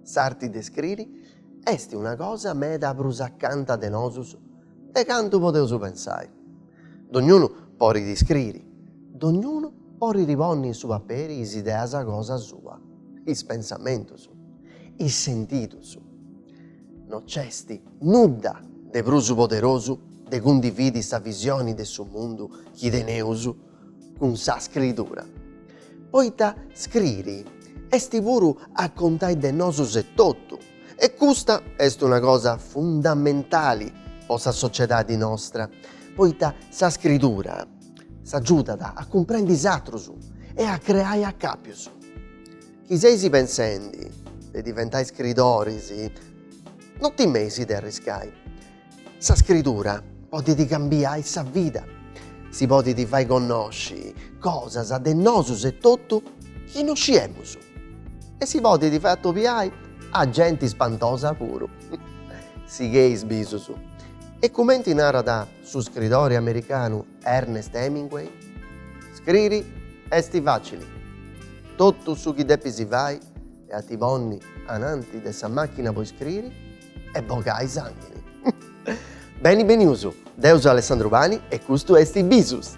S'arti de scriri est una cosa meda prus acanta de nosus de cantu podeus pensai. Dognunu podit scriri, dognunu podit ponni in su paperi is ideas cosa sua, is pensamentus, is sentidus. No nc'esti nudda de prus poderosu de cundividi sa visioni de su mundu chi teneus cun sa scritura, poita scriri esti puru a contai de nosus etotu e custa est una cosa fundamentali po sa sociedadi nostra, poita sa scritura s'agiudat a cumprendi is atrus e a creai acapius. Chi seis pensendi de diventai scridoris, no timeis de arriscai. Sa scridura podit cambiai sa vida, si podit fai connosci cosas de nosus etotu chi no sciemus e si podit fai atobiai a genti spantosa puru. Sigheis bisus e cumenti narat su scridori americanu Ernest Hemingway Scriri esti facili, totu su chi depis fai est a ti ponni ananti de sa machina po iscriri e bogai sànguni. Beni benius, deu seu Alessandro Pani e custu esti Bisus.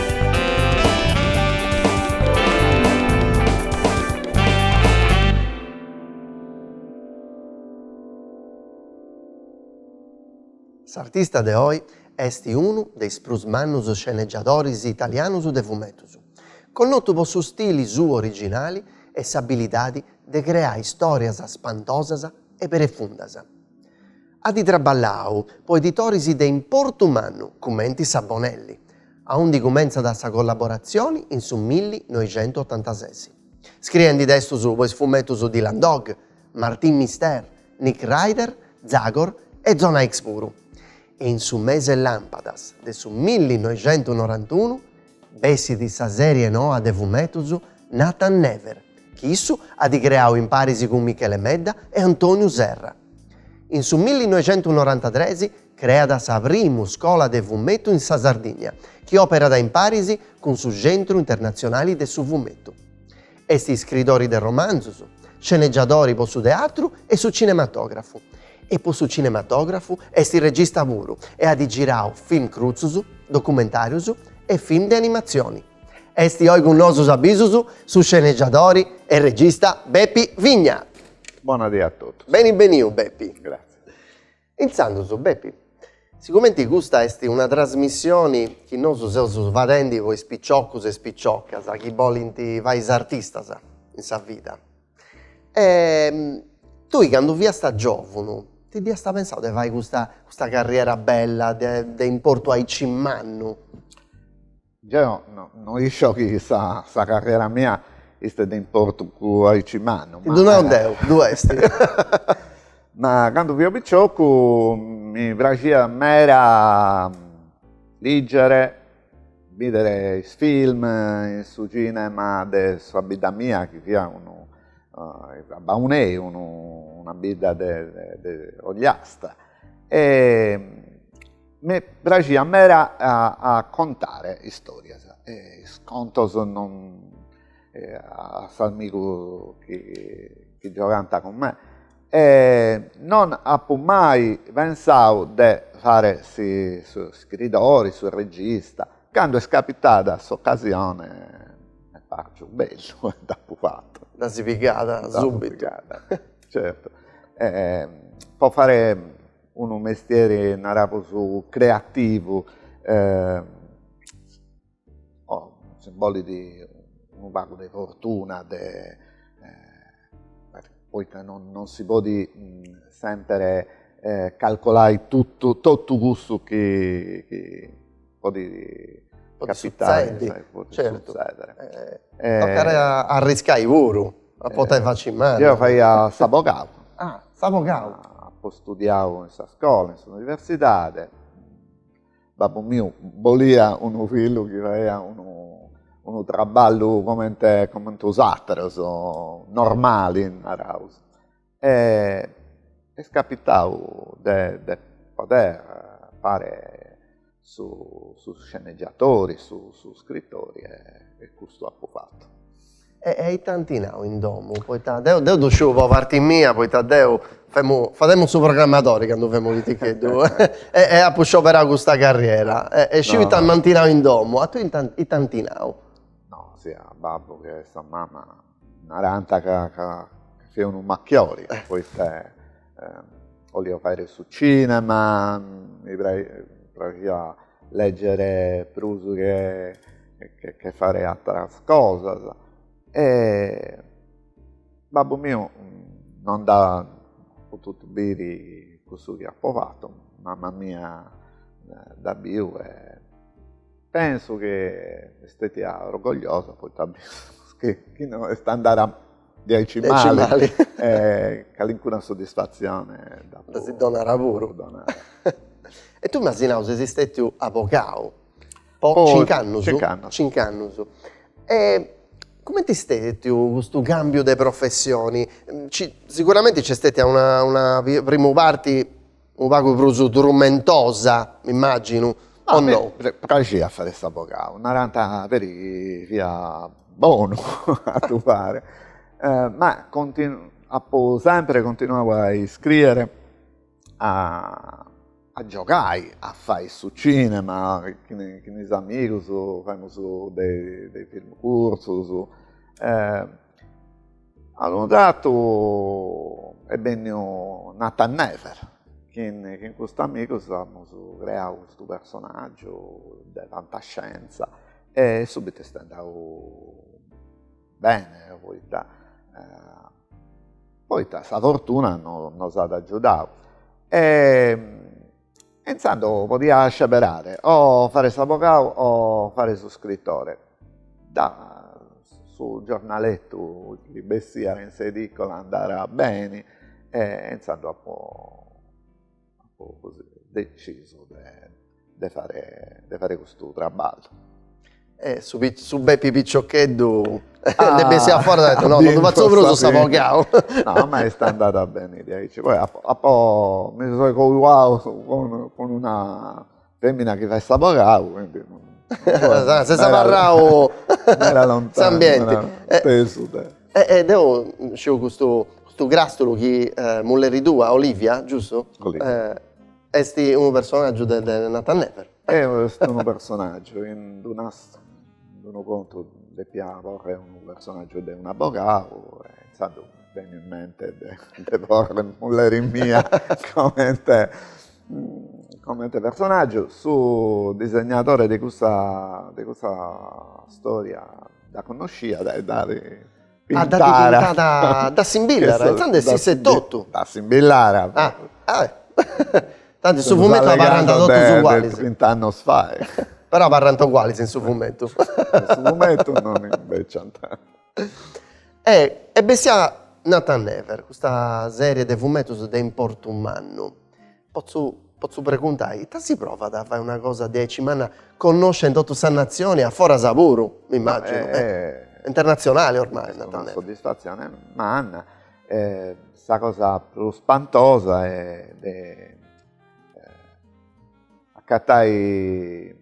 S'artista de oi est unu de is prus mannus scenegiadoris italianus de fumetus, connotu po su stili suu originali e s'abilidadi de creai stòrias spantosas e profundas. At traballau po editoris de importu mannu cumenti sa Bonelli, aundi cumentzat sa collaboratzioni in su millinoixentuotantases, scriendi testus po is fumetus Dylan Dog, Martin Mystère, Nick Raider, Zagor e Zona X puru, e in su mese làmpadas de su millinoixentunorantunu bessit sa sèrie noa de fumetus Nathan Never, chi issu at creau imparis cun Michele Medda e Antonio Serra. In su millinoixentunorantatres Creat sa primu scola de fumetu in sa Sardìnnia, chi òperat in paris cun su Centru Internatzionali de su Fumetu. Est iscridori de romanzus, scenegiadori po su teatru e su cinematògrafu, e po su cinematògrafu est regista puru e at girau film crutzus, documentàrius e film de animatzioni. Est oi cun nosu s'abisu su scenegiadori e regista Bepi Vigna. Bona die a totus. Beni beniu Bepi. Gratzie. Intzandus Bepi, sigumenti custa est una trasmissioni chi nosu seus fadendi po is piciocus e is piciocas chi bolint fai is artistas in sa vida e tui candu fiasta giovunu ti dd'iasta pensau de fai custa custa carriera bella de importu aici mannu? Deo no isco chi sa carrera mia istet de importu aici mannu. Ddu nau deu, ddu est. Ma candu fio piciocu mi praxiat meda lìgere, bìdere is film in su cinema de sa bidda mia chi fiat a Baunei, una bidda de ogliasta e Mi praxiat meda a contare istorias e is contos non a s'amigu chi chi giogant cun me e non apu mai pensau de fare su scriridori, su regista, candu est capitada s'ocasione m'est parciu bellu e dd'apu fatu. Dd'as pigada subitu. Dd'as pigada, certu. Po fare unu mestieri, naraus, creativu, nci bolit unu pagu de fortuna, poita non si podit semper calcolai totu cussu chi podit capitare, tocare a arriscai puru, a potai faci mali. Deo faia s'abogau. Ah, s'abogau. Apo studiau in sa scola, in s'universidade, babbu miu bolia unu fillu chi faiat unu unu traballu comente coment'us ateros, normali naraus e est capitau de de poder fare su su sceneggiatori, su su scritori e custu apu fatu. E e ite ant nau in domu, poita deu deu ddu sciu po parti mia poita deu femu fadendi su programmadori candu femu piticheddu e e apu scioberau custa carriera e e sciu ita m'ant nau in domu, a tui ita ant nau? No sia babbu che sa mama Naranta ca, ca fiat unu macchiori, poita olio fai su cinema, mi praxia leggere prus che, che faere atteras cosas e babbu miu non nd'ha potutu biri cussu chi apo fatu, mamma mia nd'at biu e Penso chi siat stetia orgogliosa poita penso chi chi no est andada diaici mali calincuna soddisfatzione dda si dd'apu donada puru. E tui m'as nau ses stetiu abogau po cinc'annus. Cinc'annus. Cinc'annus. E cumenti est stetiu custu cambiu de professioni, siguramenti nc'est stetia una una prima parti unu pagu prus turmentosa, m'immaginu, o no? Mi praxiat a fai s'abogau, naranta peri chi fia bonu a ddu fai, ma apu sempri continuau a iscriere, a giogai, a fai su cinema cun is amigus, faimus de is film curtzus A unu tratu est benniu Nathan Never, chin chin custus amigos amus creau custu personaggiu de fantascienza e subito est andau bene poita poita sa fortuna nos at agiudau e e intzandus podia sceberare o faere s'avogau o faere su scrittore, da su giornalettu chi bessiat in s'edicola andàt beni e intzandus apo apo decisu de faere de faere custu traballu Eh su pi su Bepi piccioccheddu ah nd'est bessiu a fora apo nau no ddu fatzo prus s'avogau. No ma est andada beni diaici, poi apo apo mi seu cojau cun cun una femina chi fait s'avogau quindi ses abarrau in s'ambienti. Pensu de. E e deu sciu custu crastulo chi mulleri tua Olivia giustu? Olivia Est unu personàgiu de Nathan Never. Eja est unu personàgiu in d'unu, in unu contu depia porre unu personàgiu de un'abogau e intzandus mi benit in mente de de porri mulleri mia comente comente personàgiu. Su disegnadori de custa de custa storia dda connosciat e dd'at Ah, dda pintara, dda simbillara, intzandus essisset totu. Dda simbillara. Ah, ah tanti in su fumettu abarrant totus ugualis. De trint'annos fai. Però abarrant ugualis in su fumettu. In su fumettu non imbeciant. E bessiat Nathan Never, custa serie de fumettus de importu mannu. Potzu potzu preguntai, ita si provat a fai una cosa diaici manna connoscia in totu sa natzioni a foras puru, m'immaginu, e internatzionali ormai. Est una soddisfatzioni manna, sa cosa prus spantosa est de acatai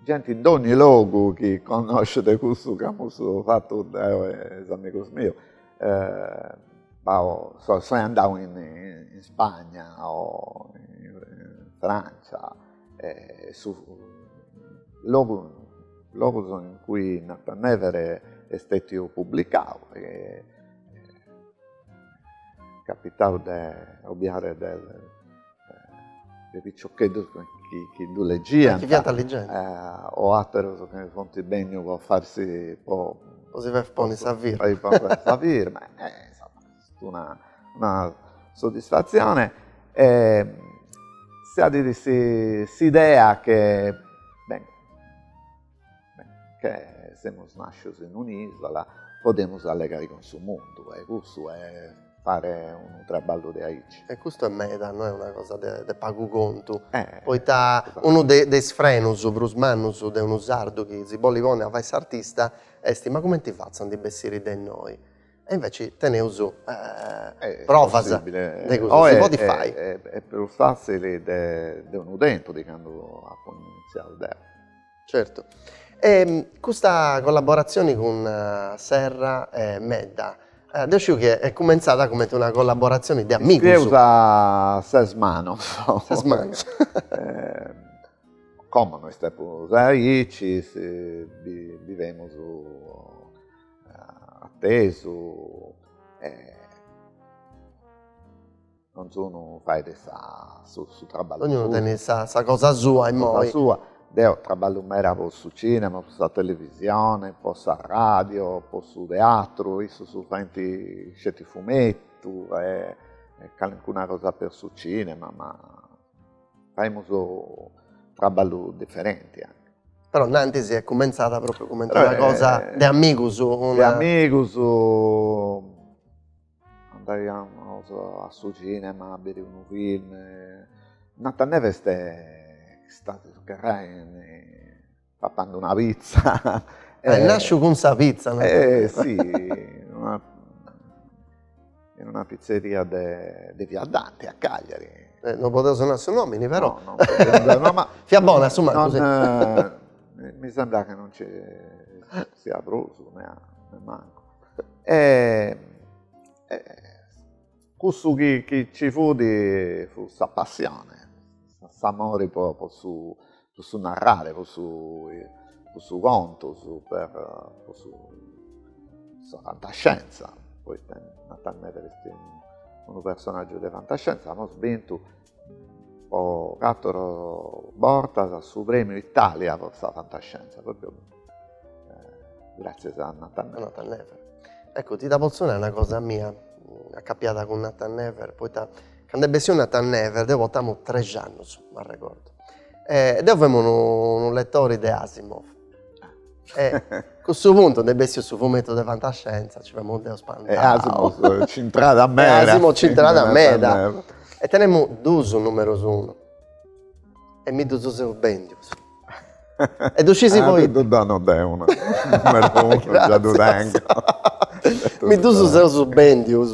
genti dogni logu chi connoscet cussu chi amus fatu deu e is amigus miu b'apo so so andadu in in Spagna o in Franza e su logu logus in cui Nathan Never est stètiu publicau est capitau de obiare de de piciocheddus chi ddu legiant. Chi fiant legendi. O aterus chi funt bennius po farsi po. Po si fai ponni sa firma. Po si fai ponni sa firma. Insoma, est una soddisfatzioni. S'adit s'idea che, beni. Che semus nàscios in un'ìsula, podemus allegare cun su mundu e custu est fare unu traballu de aici. E custu est meda, no est una cosa de pagu contu, poita unu de is frenus prus mannus de unu sardu chi si bollit ponni a fai s'artista est ma cumenti fatzu a ndi bessiri de innoi. E inveci teneus provas de cussu, si podit fai. Est prus fatzili de unu tempus, de candu apu initziau deu. Certu. E custa collaboratzioni cun Serra e Medda, deu sciu chi est cumentzada cumenti una collaboratzioni de amigus. Iscrieus a ses manos. Ses manos. Como no est prus aici, bivemus attesu e donzunu fait sa su su traballu suu. Dognunu tenit sa sa cosa sua immoi. Sa cosa sua, deo traballu meda po su cinema, po sa televisione, po sa radio, po su teatru, issus faint sceti fumettu e calincuna cosa per su cinema ma Faimus traballu diferenti anche. Però innanti si est cumentzada propriu comente una cosa de amigus. De amigus, andaiamus a su cinema a biri unu film, Nathan Never est istadu gherrai Papende una pitza. Est nasciu cun sa pitza. E si, in una pitzeria de via Dante a Cagliari. E non podeus nai su nomini però. No, no. Ma fiat bona a su mancu. Mi sembrat chi non nci siat prus, nemancu. Cussu chi ci fut fut sa passione, s'amori po su narrare, po su contus, po sa fantascienza, poita Nathan Never est unu personaggiu de fantascienza, amus bintu po catoro bortas su premiu Italia po sa fantascienza, propriu eh, grazzias a Nathan Never. Nathan Never. Ecco, ti da pozzu nai una cosa mia accapiada cun Nathan Never, poita cando est bessiu Nathan Never, deu portamu trexi annus, m'arregordu, e deu femu unu unu lettori de Asimov E cussu puntu nd'est bessiu su fumettu de fantascienza, ci femu deu spantau. E Asimov c'entrada meda. E Asimov c'entrada meda. E tenemu duus numerus unu. E mi ddus seus bendius. E ddu scisi poita. Deu ddu donu deu unu numeru unu, già ddu tengu. Mi ddus seus bendius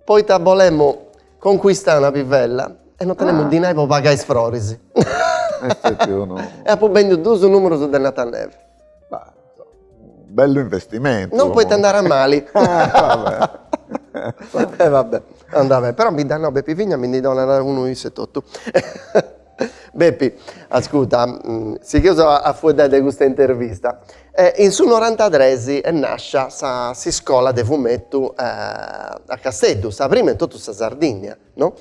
poita bolemu concuistai una pivella e no tenemu dinai po pagai is froris. E apu bendiu duus numerus de Nathan Never. Bellu investimentu. No, poita est andada mali. E va bè, andat beni. Però mi dd'at nau Bepi Vigna mi ndi donat unu issu etotu. Bepi, ascuta, sighius a fueddai de custa intervista. In su norantatres est nàscia sa s'iscola de fumetu a Casteddu, sa prima in totu sa Sardìnnia, no?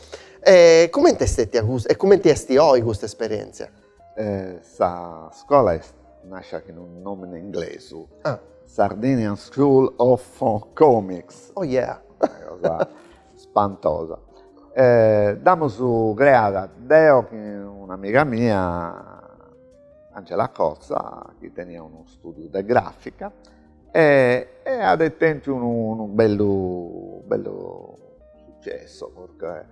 E cumenti est stètia custa e cumenti est oi custa esperièntzia? Sa scola est nàscia cun unu nòmini inglesu, Sardinian School of Comics. Oh yeah! spantosa e dd'amus creada deo e un'amiga mia Angela Cotza chi teniat unu studiu de grafica e e at tentu unu unu bellu bellu sucessu perché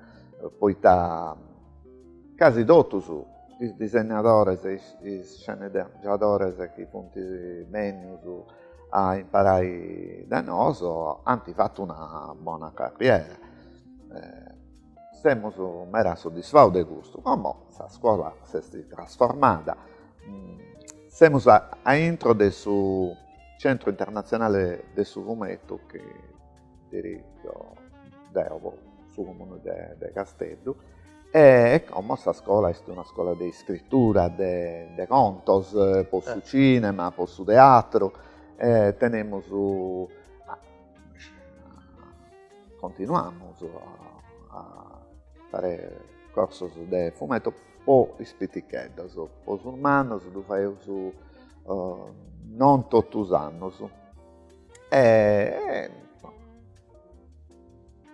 poita casi totus is disegnadores is sceneggiadores chi funt bennius a imparai de noso ant fatu una bona carriera, semus meda soddisfaus de custu, como sa scuola s'est trasformada, semus a intro de su centro internazionale de su fumetu chi dirigiu deo po su comune de de Casteddu e como sa iscola est una iscola de iscritura de de contos po su cinema po su teatru e tenemus continuamus a a fare corsos de fumetto po is piticheddos po sos mannos ddu faeus non totu is annus e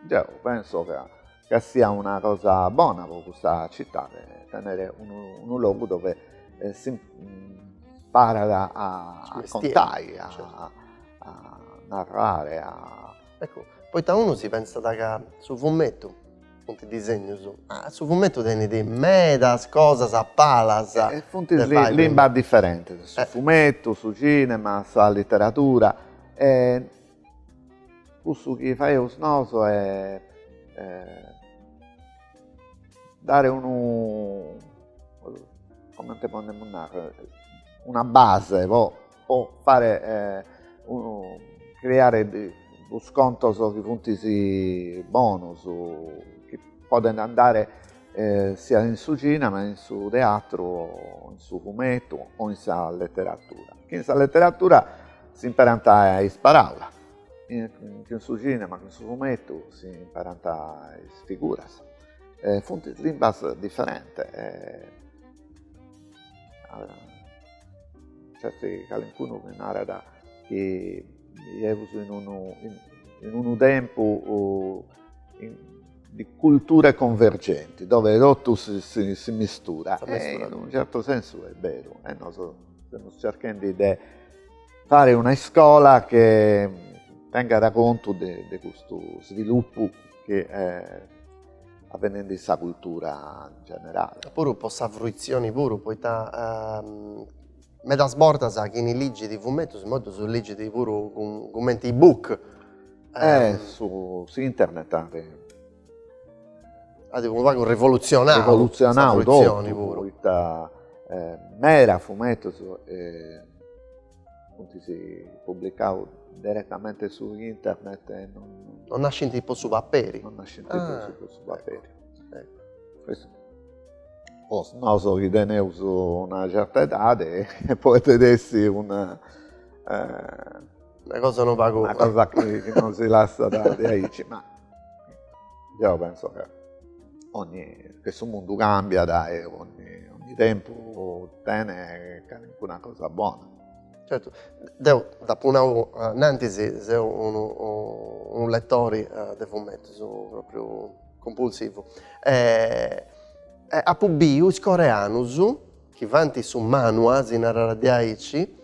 deo penso ca ca siat una cosa bona pro cussa cittade tenere unu logu dove s'imparat a contai a narrare ecco poita unu si pensat ca su fumetu Funt disegnus, ma su fumetu tenit medas cosas a palas. E funt limbas diferentes, su fumetu, su cinema, sa literatura e cussu chi faeus nosu est dare unu, comente podemus nàrrere, una base po po fare creare unus contos chi funt bonus, chi podent andare siat in su cinema, in su teatru o in su fumetu o in sa leteratura. Chi in sa leteratura s'imperant is paraulas, in su cinema o in su fumetu s'imperant is figuras, funt limbas diferentes Certe calincunu mi narat chi seus in unu, in unu tempu de cultura convergenti, dove totu si misturat, in unu certu sensu est beru e nosu semus cerchendi de fare una iscola chi tengat contu de custu svilupu chi At benendi in sa cultura in generali. E puru po sa fruitzioni puru poita medas bortas chini ligit fumetus immoi ddus ligit puru cumenti e-book. E s'internet at. At unu pagu rivolutzionau. Rivolutzionau totu poita mera fumetus Funtis publicaus deretamente su internet e non. Non nascint po su paperi. Non nascint prus po su paperi. Ecco. Po nosu chi teneus una certa edadi podet essi una una cosa unu pagu. Una cosa chi nosi lassat diaici ma Deo penso chi ogni, chi su mundu cambiat e ogni, ogni tempus tene calincuna cosa bona. Certu, deu dd'apu nau in antis, seu unu, unu letori de fumetus propriu cumpulsivu e apu biu is coreanus chi fant su manua, si narat diaici,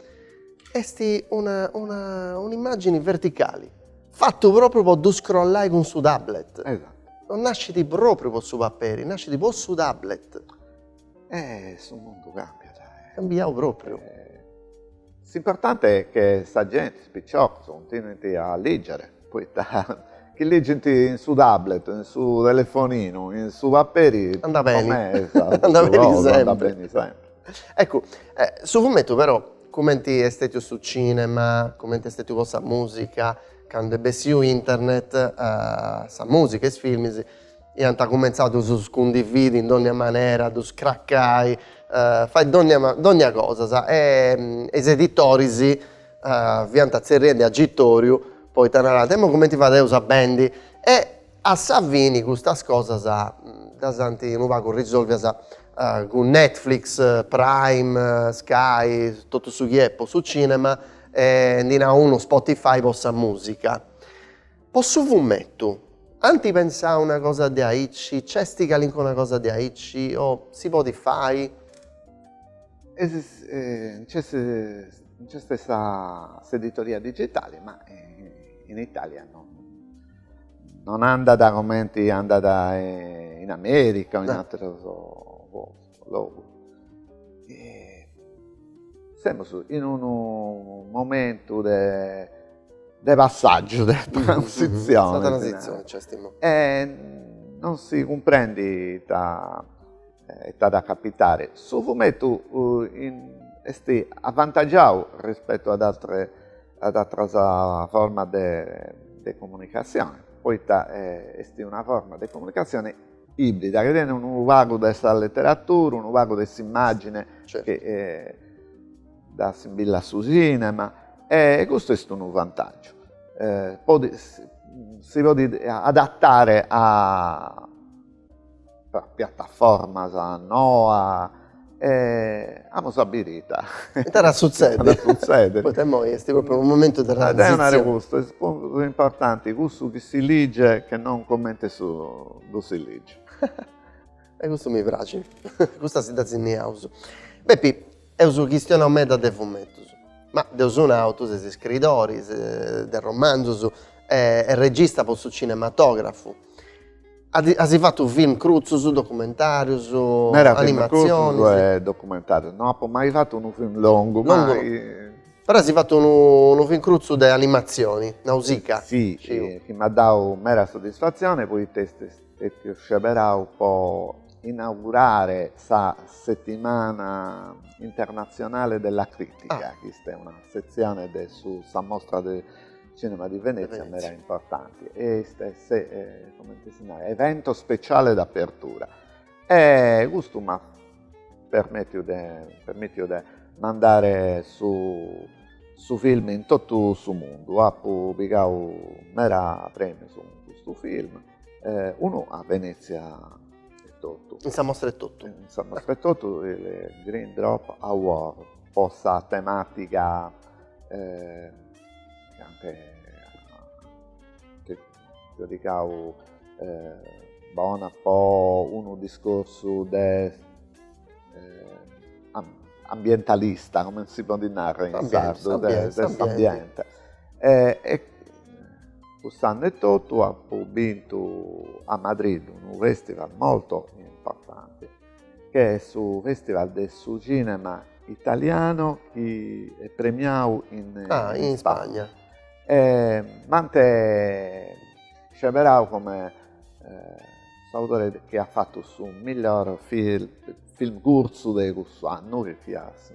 est una una un'immàgini verticali, fata pròpriu po ddu scrollai cun su tablet. Esatu. Non nascit pròpriu po su paperi, nascit po su tablet. E su mundu càmbiat. Cambiau pròpriu. S'importante est chi sa genti, is piciocus, cuntinuint a lìgere, poi chi ligint in su tablet, in su telefoninu, in su paperi, po mei est sa prus cosa, andat beni sempri. Eccu, su fumetu però, cumenti est stètiu su cìnema, cumenti est stètiu po sa mùsica, candu est bessiu internet, sa mùsica, is filmis, Iant cumentzau a ddus cundividi in dònnia manera, ddus cracai, fai dònnia dònnia cosas e is editoris fiant tzerriendi agitoriu poita narant, imoi cumenti fadeus a bendi e a sa fini custas cosas ddas ant unu pagu risolvias cun Netflix, Prime, Sky, totu su chi est po su cinema e ndi nau unu Spotify po sa musica Po su fumettu, ant pensau una cosa de aici, nc'est calincuna cosa de aici o si podit fai? Nc'est nc'est sa s'editoria digitali ma in Italia non non andat cumenti andat in America o in ateros logu. E semus in unu momentu de de passàgiu, de transitzione. Sa transitzione nc'est imoi. E non si cumprendit ita ita at a capitare. Su fumetu est avantagiau rispettu a ateras a ateras formas de comunicazione, poita est una forma de comunicazione Ibrida, chi tenet unu pagu de sa leteratura, unu pagu de s'immàgine chi dda assimbillat a su cinema e custu est unu vantàgiu. Podit si podit adatare a piataformas noas E amus a biri ita at a sutzedi, poita imoi est propriu unu momentu de transizioni. Deo naro custu, est prus importanti cussu chi si liget che non cumenti ddu si liget. E custu mi praxit, custa si dda sinnaus. Bepi, eus chistionau meda de fumetus, ma dd'eus nau, tui ses iscridori de romanzus e regista po su cinematografu. As fatu film crutzus, documentarius, animatzionis? Meda film crutzus e documentarius, no apo mai fatu unu film longu, mai. Però as fatu unu film crutzu de animatzioni, Nausicaa. Si, chi m'at dau meda soddisfatzioni poita est stetiu sceberau po inaugurare sa Settimana internazionale della critica, chi est una setzione de su, sa mostra de Cinema di Venezia, Venezia. mera importante. Est, est eh, comente si narat, evento speciale d'apertura. E custu m'at permittiu de, permittiu de mandare su, su film in totu su mundu. Apu pigau mera premius cun custu film, eh, unu a Venezia e totu. In sa mostra e totu. In sa mostra e totu, il Green Drop Award, po sa temàtica... Eh, Chi ant giudicau eh, bona po unu discorsu de eh, ambientalista, comente si podet narrer in sardu, de, s'ambiente. E, e cuss'annu e totu apo bintu a Madrid unu festival molto importante che est su festival de su cinema italiano chi est premiau in ah, in Spagna. E m'ant sceberau come eh, s'autore chi at fatu su miglior film, film curzu de cussu annu, che fiat su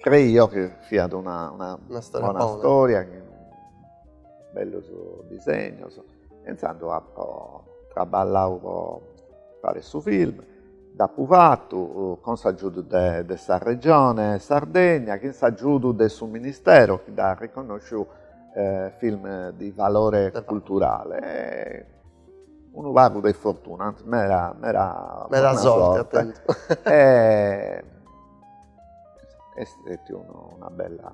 Creio chi siat una, una, una storia bona storia, bellus disegnus e intzandus apo traballau po fàere su film, dd'apu fatu cun s'agiudu de de sa Regione Sardegna chin s'agiudu de su Ministero chi dd'at riconnosciu film di valore culturale e unu pagu de fortuna, antzis meda meda meda sorte at tentu e Est stetiu una bella,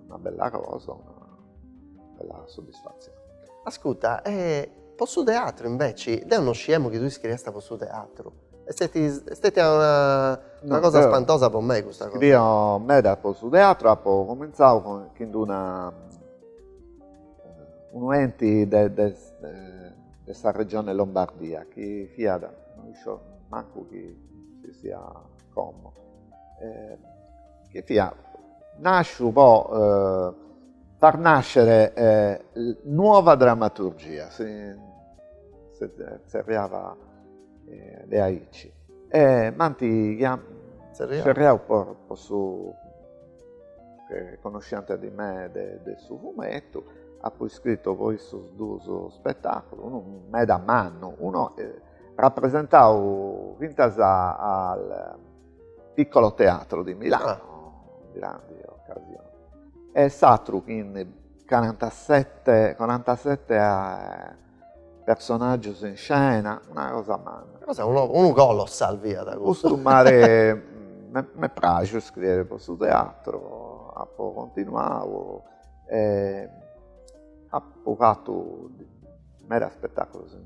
una bella cosa, una bella soddisfatzione. Ascurta, e po su teatru inveci, deu no sciemu chi tui scriiast po su teatru, est steti, est stetia una, una cosa spantosa po mei custa cosa. Scrio meda po su teatru, apo comintzau cun, chin d'una, unu enti de de de sa regione Lombardia chi fiat, no isciu mancu chi si sia como eh, chi fia nasciu po eh, far nascere eh, nuova drammaturgia, si, si zerriava eh, de aici. E m'anti chiam, zerriau po, po su che conosciant di me de, de su fumettu, apu iscrittu po issus duus spettaculu, unu meda mannu, uno eh, rappresentau fintas al Piccolo Teatro di Milano, grandi occasione, e s'atru chin carantasette, carantasette personaggios in scena, una cosa manna. Cosa, unu, unu colossal fiat custu. Custu m'at m'est praxiu iscriere pro su teatro, apo continuau e apo fatu Meda spetaculos in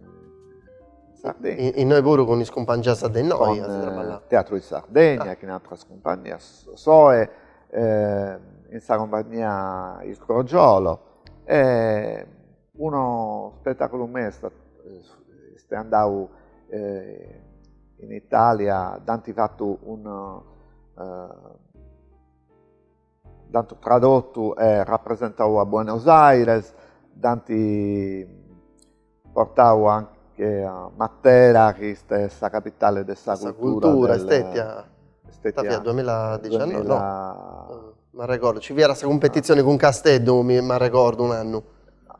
Sardegna. Innoi puru cun is cumpangias de innoi as traballau? Cun Teatro di Sardegna e chin ateras cumpagnias soe in sa cumpagnia Il Crogiolo e uno spetaculu meu est andau in Italia, dd'ant fatu unu Dd'ant tradotu e rapresentau a Buenos Aires, dd'ant portau anche a Matera chi est sa capitale de sa cultura del. Ita fiat duamilla dixiannovi? No, m'arregordu, nci fiat sa cumpetitzioni cun Casteddu, m'arregordu un'annu.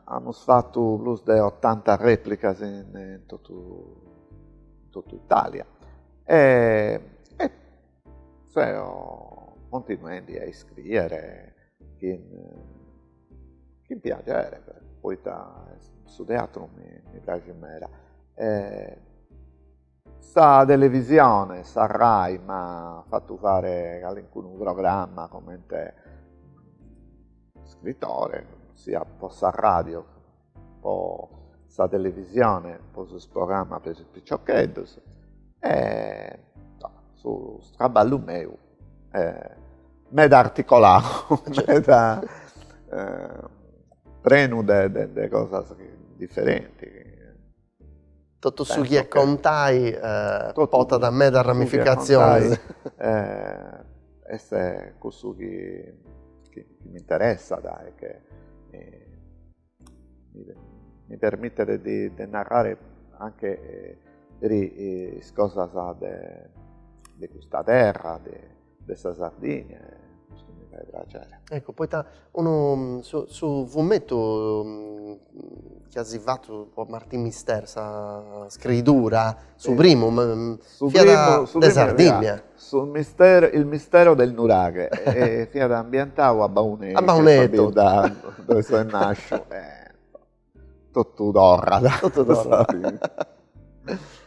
Amus fatu prus de otanta replicas in totu Italia e Seu continuendi a iscriere chin, chin piaghere, poita su teatru mi, mi praxit meda. E sa televisione, sa rai m'at fatu fare calincunu programma comente iscritore, siat po s'arradiu po sa televisione, po sos programmas po is piccioccheddus e su traballu meu est meda articoladu, meda prenu de cosas differenti Totu su chi est contai portat medas ramificatzionis. Est cussu chi mi interessat e che mi permitet de narrare anche peri is cosas de custa terra de sa Sardigna e custu mi fait praxeri. Ecco, poita unu, su, su fumettu chi as fatu po Martin Mystère, sa scriidura, su primu, fiat de Sardigna. Su mistero, il mistero del nuraghe e fiat ambientau a Baunei, a Baunei, sa bidda dove soe nasciu e Totu torrat. Totu torrat.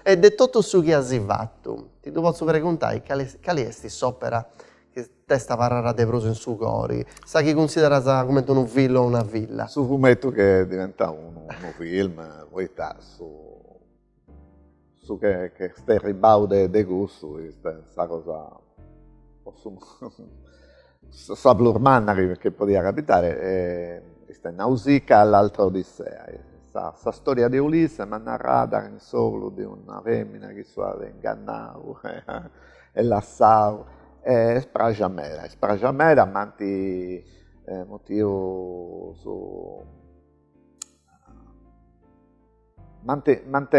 E de totu su chi as fatu, ti ddu potzu preguntai, cali, cali est s'opera chi t'est abarrada de prus in su cori, sa chi cunsideras cumenti unu fillu o una filla? Su fumettu chi est diventau unu film, poita su Su che est erribau de cussu est sa cosa sa prus manna chi podiat capitare est Nausicaa l'altra Odissea. Sa storia de Ulisse ma narrada in s'ogru de una femina chi issu at ingannau e lassau e est praxia meda, est praxia meda m'ant mutiu su M'ant, m'ant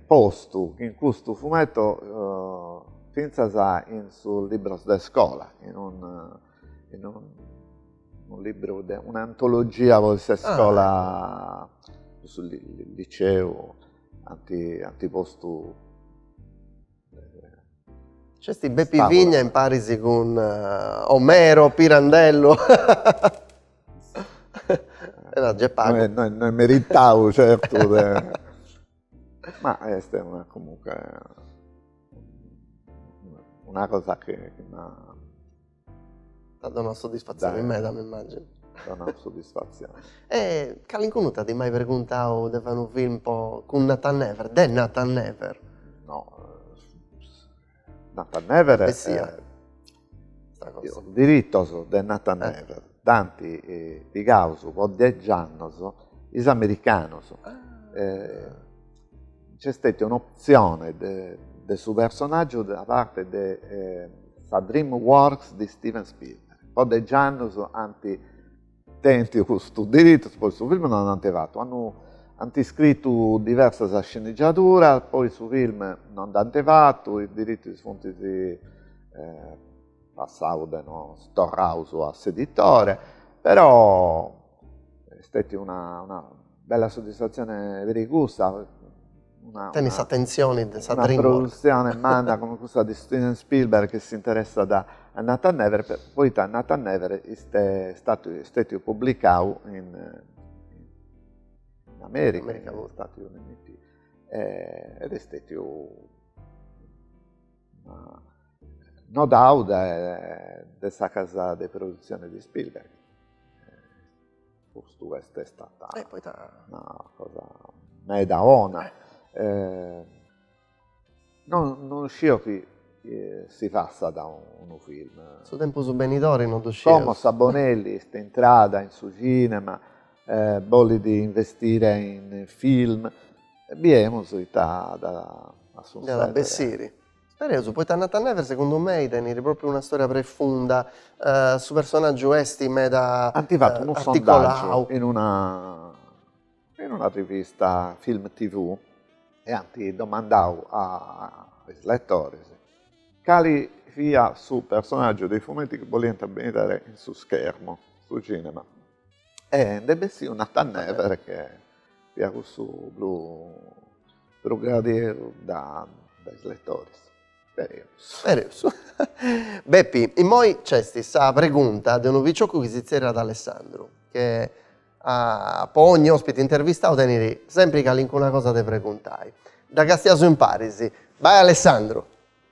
postu in custu fumeto fintzas in sos libros de iscola, in unu, in unu libru de, un'antologia pro sa iscola, pro su liceu ant, ant postu. C'est Bepi Vigna imparis cun Omero Pirandello E giai est pagu. No est, no est meritadu certu e ma est una comunque una cosa chi m'at. T'at donadu soddisfatzioni meda m'immagino. M'at donadu soddisfatzioni. E calincunu t'at mai perguntadu de fai unu film po cun Nathan Never, de Nathan Never? No Nathan Never is diritos de Nathan Never dd'ant pigados po degi annos is americanos nc'est stètia un'optzione de su personàgiu da parte de sa DreamWorks de Steven Spielberg po degi annos ant Tentiu custus diritus, poi su film non l'ant fatu, ant iscritu diversas sceneggiaduras, poi su film non l'ant fatu, is diritus funt passaus de nou, torraus a s'editore, però est stètia una bella soddisfatzione peri cussa Tenit s'atentzioni de sa Dreamworks. Una produtzione manna che cussa de Steven Spielberg chi s'interessat a Nathan Never poita Nathan Never est stètiu publicau in America, in Stati Uniti ed est stètiu nodau dae sa casa de produtzione de Spielberg custa est stata eh, poita... una cosa meda bona. Eh. Eh, non, non scio chi eh, si fassat unu film. Su tempus benidori non ddu sciu. Como sa Bonelli est intrada in su cinema, eh, bolit investire in film, biemus ita at a sussèdere. Nd'at a bessiri. Spereus, poita Nathan Never segundu mei teniri propriu una storia prefunda, su personaggiu esti meda articolau. Anti fatu unu sondaggiu in una in una rivista Film TV e anti domandau a is letoris cali fia su personaggiu de is fumetti chi boliant bidere in su schermu, su cinema. E nde bessiu Nathan Never chi fiat cussu prus gradiu dae is letores. Spereus. Spereus. Bepi, immoi nc'est sa pregunta de unu picioccu chi si tzerriat Alessandru, che po ogni ospite intervistau tenit sempri calincuna cosa de preguntai. Dda castiaus imparis. Bai Alessandru.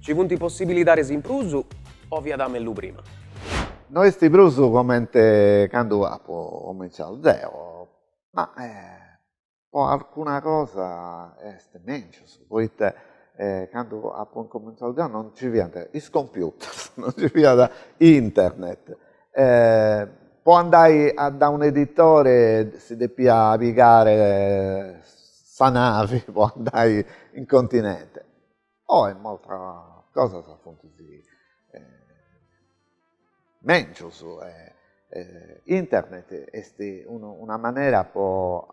Ci funt possibilidades in prus o fiat mellus prima? No est prus comente candu apu comintzau deo, ma po alcuna cosa est mèngius, poita candu apu incomintzau deo non nci fiant is computers, non nci fiat internet, po andai dae un' editore si depia pigare sa navi po andai in continente Oe medas cosas funt mèngius e internet est una manera po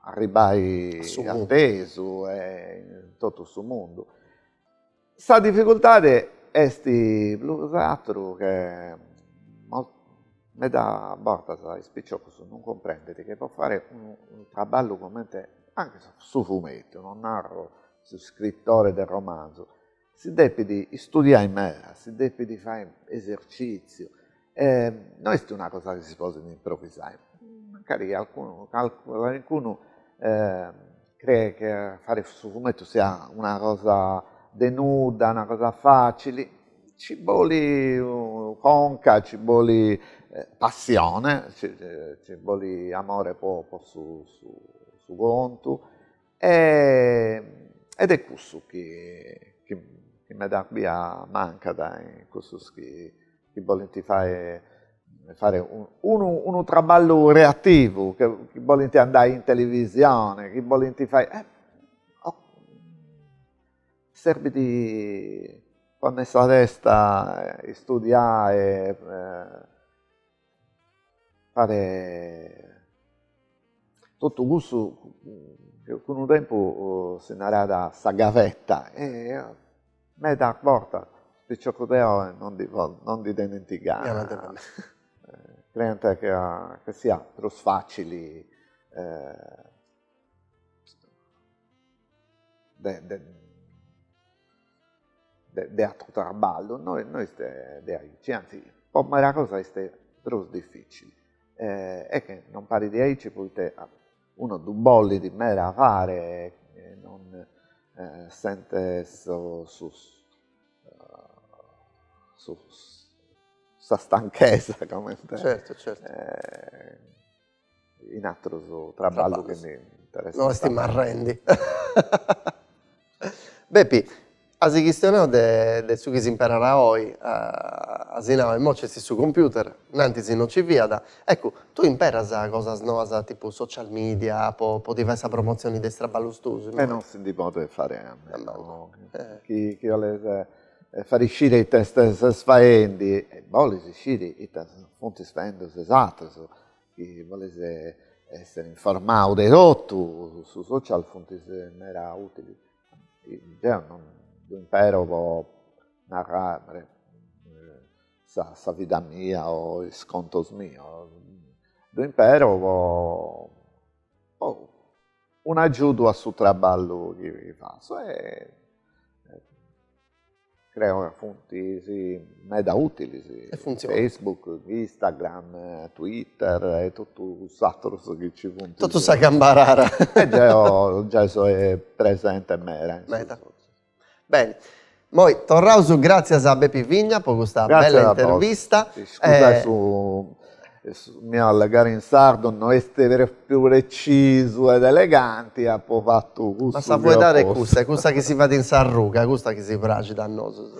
arribbai a tesu e in totu su mundu. Sa difficultadi est prus ateru che meda bortas is piciocus non cumprendint chi po fai unu traballu cumenti anche su fumetu, non narro su scritore de romanzu, si depit istudiai meda, si depit fai esercìtziu, no est una cosa chi si podit improvisai, mancari calincunu calincunu creet chi a fai su fumetu siat una cosa de nudda, una cosa facili, ci bolit conca, ci bolit passione, ci bolit amore po su contu E, ed est cussu chi meda a bia mancat in cussus chi bolint fare unu traballu creativu, chi bolint andai in televisione, chi bolint fai serbit ponner sa testa, istudiai e fare totu cussu chi unu tempus si narat sa gavetta e meda bortas is piciocus de oi non ndi tenint gana creent chi siat prus facili de de atru traballu, no est de aici, anzi po medas cosas est prus dificili est che non parit de aici poita unu ddu bolit meda fare e non sentit sa stanchesa comente in atteros traballos che mi interessano. No est marrendi. Bepi, as chistionadu de su chi s'imperat oi, as nadu immoi ci est su computer, innantis no ci fiat, eccu, tue imperas cosas noas tipu social media po ti fai sa promotzioni de is traballos tuos? E no si ndi podet fai a meno chi 'oles fàghere scire ite ses faendi e bolis scire ite funtis faendu is atrus chi bolis essere informau de totu su social funt meda utili deo non ddu impero po narrer sa vida mia o is contos mios ddu impero po un'agiudu a su traballu chi fatzo e creo ca funt meda ùtilis, Facebook, Instagram, Twitter e totu is aterus chi nci funt. Totu sa cambarara. E deo gei so presente meda. Beni, moi torraus, gràtzias a Bepi Vigna po custa bella intervista. Iscusa su miu allegare in sardu no est pròpriu pretzisu ed eleganti, apo fatu cussu chi apu pòtziu. Ma sa fuedada est cussa, est cussa chi si fait in s'arruga, custa chi si praxit a nosu.